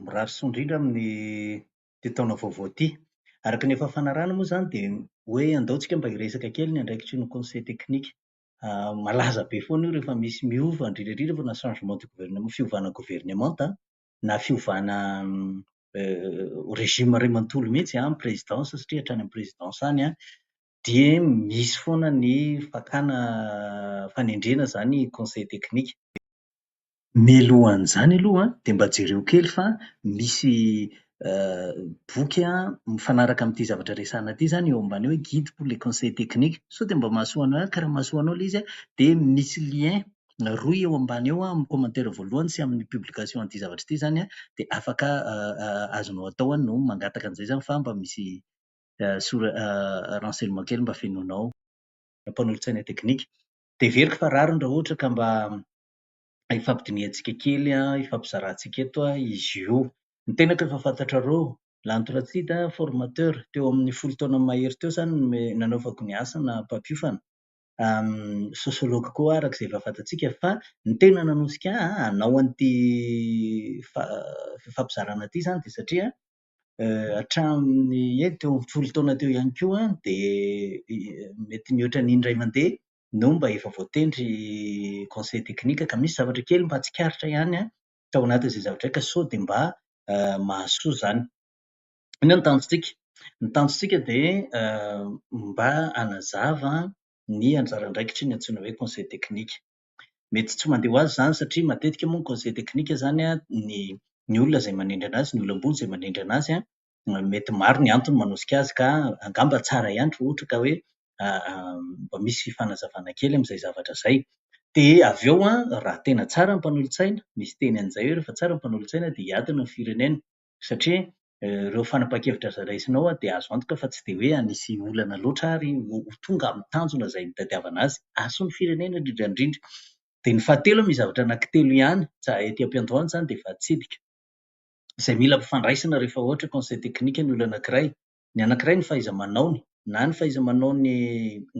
mirary soa indrindra amin'ity taona vaovao ity. Araka ny efa fanarahana moa izany dia hoe andao tsika mba hiresaka kely ny andraikitry ny conseil technique. Malaza be foana io rehefa misy miova, indrindra indrindra fa na changement de gouvernement, fiovana governemanta, na fiovana regime iray manontolo mihitsy amin'ny presidence satria hatrany amin'ny presidence any an, dia misy foana ny fakana fanendrena izany conseil technique. Mialohan'izany aloha dia mba jereo kely fa misy boky mifanaraka amin'ity zavatra resahana ity izany eo ambany hoe guide pour les conseils techniques. Sao dia mba mahasoa anao ihany ka raha mahasoa anao ilay izy dia misy lien rohy eo ambany eo amin'ny commentaire voalohany sy amin'ny publication an'ity zavatra ity izany dia afaka azonao atao no mangataka an'izay izany fa mba misy sora- renseignement kely mba fenoinao mpanolotsaina teknika. Dia heveriko fa rariny raha ohatra ka mba hifampidinihantsika kely an, hifampizarantsika eto an izy io. Ny tenako efa fantatrareo, Lanto Ratsida, formateur, teo amin'ny folo taona mahery teo izany no me- nanaovako ny asa na mpampiofana, sosiology koa aho araka izay efa fantatsika. Fa ny tena nanosika ahy hanao an'ity fa- fifampizarana ity izany dia satria hatramin'ny eny teo amin'ny folo taona teo ihany koa dia mety nihoatra ny indray mandeha no mba efa voatendry conseil technique ka misy zavatra kely mba tsikaritra ihany an, tao anatin'izay zavatra izay ka sao dia mba mahasoa izany. Inona no tanjontsika? Ny tanjontsika dia mba hanazava ny anjara andraikitry ny antsoina hoe conseil technique. Mety tsy mandeha ho azy izany satria matetika moa ny conseil technique izany an, ny olona izay manendry an'azy, ny olom-boho izay manendry an'azy an, mety maro ny antony manosika azy ka angamba tsara ihany raha ohatra ka hoe mba misy fifanazavana kely amin'izay zavatra izay. Dia avy eo an, raha tena tsara ny mpanolotsaina, misy teny an'izay hoe rehefa tsara ny mpanolotsaina dia hiadana ny firenena. Satria ireo fanapahan-kevitra izay raisinao dia azo antoka fa tsy dia hoe hanisy olana loatra ary ho tonga amin'ny tanjona izay nitadiavana azy. Hahasoa ny firenena indrindra indrindra. Dia ny fahatelo, misy zavatra anankitelo ihany, ety am-piandohana izany dia efa hitsidika. izay mila ampifandraisina rehefa ohatra conseil technique ny olona anankiray. Ny anankiray ny fahaiza-manaony, na ny fahaiza-manaony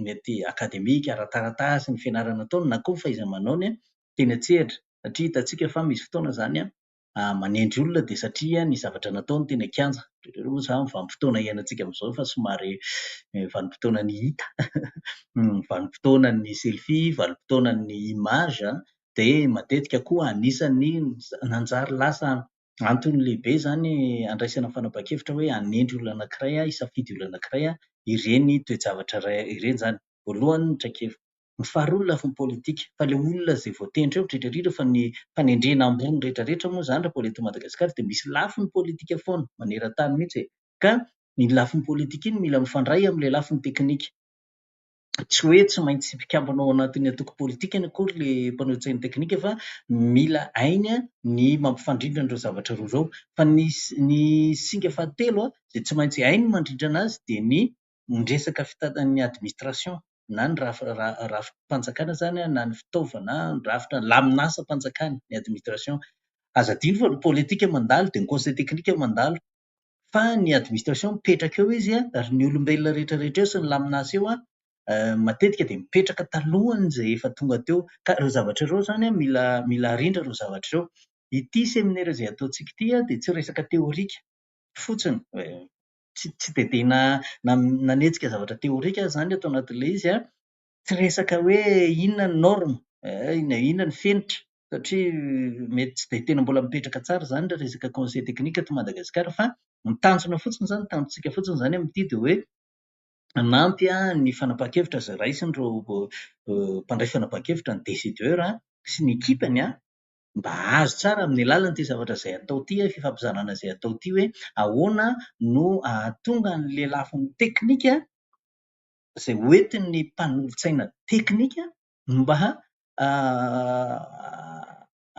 mety akademika, ara-taratasy, ny fianarana ataony, na koa ny fahaiza-manaony teny an-tsehatra. Satria hitantsika fa misy fotoana izany manendry olona dia satria ny zavatra nataony teny an-kianja. Ohatr'ireny moa izany vanim-potoana iainantsika amin'izao efa somary vanim-potoanan'ny hita, vanim-potoanan'ny selfie, vanim-potoanan'ny image, dia matetika koa anisan'ny nanjary lasa antony lehibe izany handraisana fanapahan-kevitra hoe hanendry olona anankiray aho, hisafidy olona anankiray aho, ireny toe-javatra iray ireny izany. Voalohany ny traikefa. Ny faharoa ny lafiny politika, fa ilay olona izay voatendry eo indrindra indrindra fa ny fanendrena ambony rehetra rehetra moa izany raha vao eto Madagasikara dia misy lafiny politika foana, maneran-tany mihitsy e! ka iny lafiny politika iny mila mifandray amin'ilay lafiny teknika. tsy hoe tsy maintsy mpikambana ao anatin'ny antoko politikany akory ilay mpanao tsena teknika fa mila hainy ny mampifandrindra an'ireo zavatra roa ireo. Fa ny ny singa fahatelo izay tsy maintsy hainy ny mandrindrana azy dia ny ny resaka fitantan'ny administration na ny raf- ra- rafi-panjakana izany na ny fitaovana na ny rafitra ny lamin'asam-panjakana ny administration. Aza adino fa ny politika mandalo dia ny conseil technique mandalo. fa ny administration mipetraka eo izy an, ary ny olombelona rehetra rehetra eo sy ny lamina asa eo an, matetika dia mipetraka talohan'izay efa tonga teo. Ka ireo zavatra ireo izany an, mila mila arindra ireo zavatra ireo. Ity seminera izay ataontsika ity an, dia tsy resaka teorika fotsiny, tsy tsy dia tena na nanetsika zavatra teorika aho izany ato anatin'ilay izy an, tsy resaka hoe inona ny norme, na inona ny fenitra, satria mety tsy dia tena mbola mipetraka tsara izany ilay resaka conseil technique aty Madagasikara fa ny tanjona fotsiny izany, ny tanjontsika fotsiny izany amin'ity dia hoe hanampy ny fanapahan-kevitra izay raisin'ireo mpandray fanapahan-kevitra, ny décideur sy ny ekipany mba hahazo tsara amin'ny alalan'ity zavatra izay atao ity, fifampizarana izay atao ity hoe ahoana no hahatonga ny lelafin'ny teknika, izay hoentin'ny mpanolotsaina teknika no mba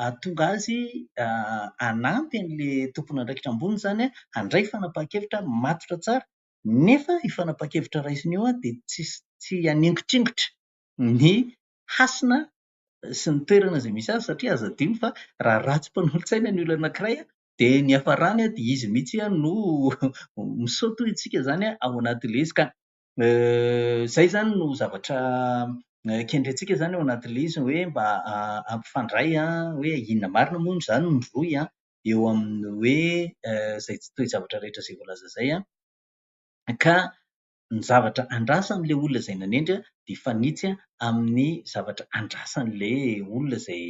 hahatonga azy hanampy an'ilay tomponandraikitra ambony izany handray fanapahan-kevitra matotra tsara. Nefa io fanapahan-kevitra raisina io dia tsy haningitringitra ny hasina sy ny toerana izay misy azy satria aza adino fa raha ratsy mpanolotsaina ny olona anankiray dia ny hiafarany dia izy mihitsy no misaoty hoy isika izany ao anaty lezy ka Izay izany no zavatra kendrentsika izany ao anatin'ilay izy hoe mba hampifandray hoe inona marina moa izany no mivoy an, eo amin'ny hoe izay toe-javatra rehetra izay voalaza izay an, ka ny zavatra andrasan'ilay olona izay nanendry an, dia hifanitsy amin'ny zavatra andrasan'ilay olona izay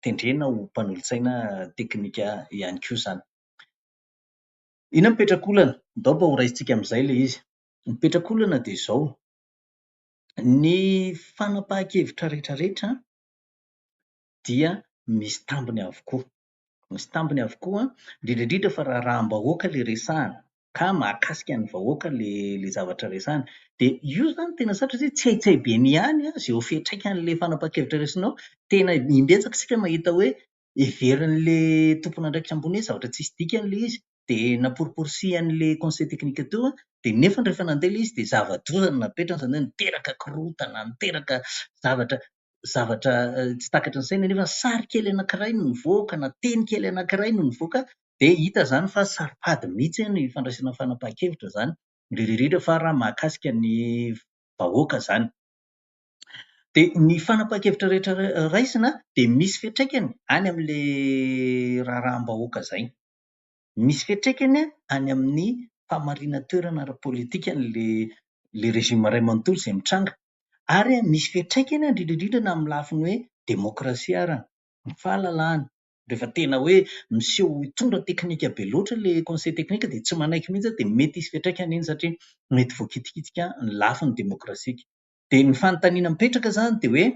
tendrena ho mpanolotsaina teknika ihany koa izany. Inona mipetrakolana? Ndao mba horaisintsika amin'izay ilay izy. Ny mipetrakolana dia izao, ny fanapahan-kevitra rehetrarehetra dia misy tambiny avokoa. Misy tambiny avokoa, indrindra indrindra fa raha raham-bahoaka ilay resahana, ka mahakasika ny vahoaka ilay ilay zavatra resahana. Dia io izany tena sarotra satria tsy hay tsy hay be ny ihany izay ho fiantraikan'ilay fanapahan-kevitra raisinao. Tena im-betsaka isika mahita hoe heverin'ilay tompon'andraikitra ambony hoe zavatra tsisy dikany ilay izy, dia namporiporisihan'ilay conseil technique teo, dia nefany rehefa nandeha ilay izy dia zava-doza no napetrany, izany hoe niteraka korontana, niteraka zavatra zavatra tsy takatry ny saina nefa sary kely anankiray no nivoaka na teny kely anankiray no nivoaka dia hita izany fa saropady mihitsy ny fandraisana fanapahan-kevitra izany, indrindra indrindra fa raha mahakasika ny vahoaka izany. Dia ny fanapahan-kevitra rehetra raisina dia misy fiantraikany any amin'ilay raharaham-bahoaka izay. Misy fiantraikany any amin'ny fahamarinan-toerana ara-politikan'ilay ilay régime iray manontolo izay mitranga. Ary misy fiantraikany indrindra indrindra na amin'ny lafiny hoe demokrasia ary, ny fahalalahana. Rehefa tena hoe miseho ho hitondra teknika be loatra ilay conseil technique dia tsy manaiky mihitsy aho dia mety hisy fiantraikany iny satria mety voakitikitika ny lafiny demokrasika. Dia ny fanontaniana mipetraka izany dia hoe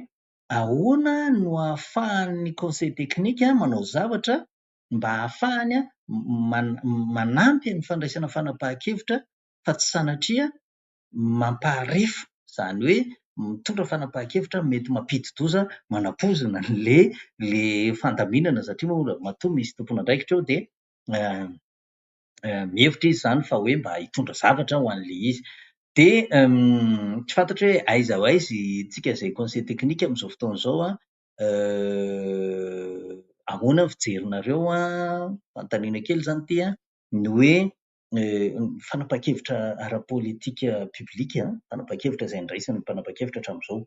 ahoana no ahafahan'ny conseil technique manao zavatra mba hahafahany manampy ny fandraisana fanapahan-kevitra fa tsy sanatria mampaharefo, izany hoe mitondra fanapahan-kevitra mety mampidi-doza manapoizina ilay fandaminana satria moa matoa misy tompon'andraikitra eo dia mihevitra izy izany fa hoe mba hitondra zavatra ho an'ilay izy. Dia tsy fantatro hoe aiza ho aiza isika izay conseil technique amin'izao fotoana izao an, ahoana ny fijerinareo an, fanontaniana kely izany ity an, ny hoe fanapahan-kevitra ara-politika public, fanapahan-kevitra izay andraisan'ny mpanapa-kevitra hatramin'izao.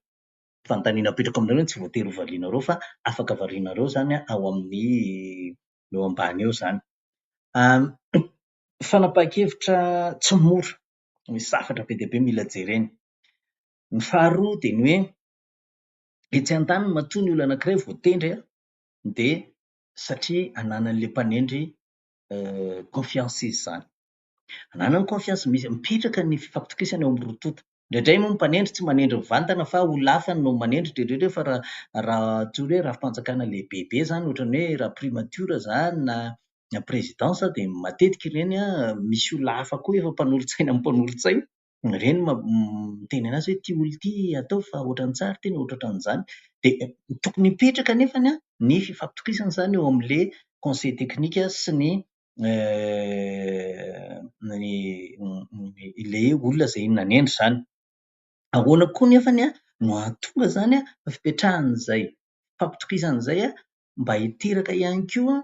Fanontaniana apetrako aminareo, tsy voatery ho varianareo fa afaka varianareo izany an, ao amin'ny eo ambany eo izany. Fanapahan-kevitra tsy mora, misy zavatra be dia be mila jerena. Ny faharoa dia ny hoe, etsy an-daniny matoa ny olona anankiray vao tendry an, dia satria ananan'ilay mpanendry confiance izy izany. Ananany confiance, mipetraka ny fifampitokisana eo amin'ny roa tonta. Indraindray moa ny mpanendry tsy manendry mivantana fa olona hafa no manendry dreoreoreo fa raha raha tsy hoe rafi-panjakana lehibebe izany ohatran'ny hoe raha primature izany na na présidence dia matetika ireny misy olona hafa koa efa mpanolotsaina amin'ny mpanolotsaina, ireny ma- miteny an'azy hoe ity olona ity ataovy fa ohatran'ny tsara ity na ohatra ohatran'izany. Dia tokony hipetraka anefany an ny fifampitokisana izany eo amin'ilay conseil technique sy ny ilay olona izay nanendry izany. Ahoana koa anefa no hahatonga izany fa fipetrahana izay fampitokisana izay mba hiteraka ihany koa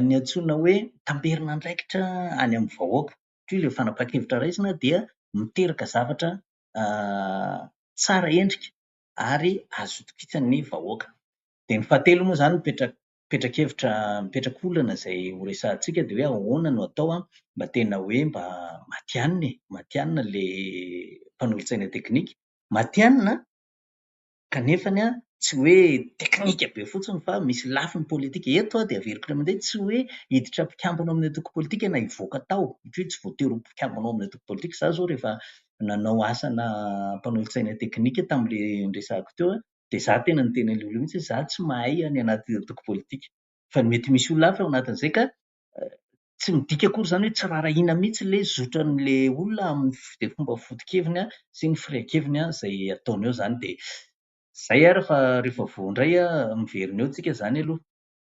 ny antsoina hoe tamberin-andraikitra any amin'ny vahoaka. Satria ilay fanapahan-kevitra raisina dia miteraka zavatra tsara endrika ary azo itokisan'ny vahoaka. Dia ny fahatelo moa izany mipetraka petrakevitra mipetraka olana izay ho resahantsika dia hoe ahoana no atao an mba tena hoe mba matihanina e, matihanina ilay mpanolotsaina teknika, matihanina kanefa ny an tsy hoe teknika be fotsiny fa misy lafiny politika, eto an dia averiko indray mandeha tsy hoe hiditra mpikambana ao amin'ny antoko politika na hivoaka tao satria tsy voatery ho mpikambana ao amin'ny antoko politika, za zao rehefa nanao asana mpanolotsaina teknika tamin'ilay niresahako teo an, dia za tena niteny an'ilay olona mihitsy hoe za tsy mahay any anaty antoko politika fa ny mety misy olona hafa ao anatin'izay ka tsy midika akory izany hoe tsy raharahiana mihitsy ilay zotran'ilay olona amin'ny fide- fomba foto-keviny an, sy ny firehan-keviny an, izay ataony eo izany dia izay ary fa rehefa voa indray an, miverina eo tsika izany aloha.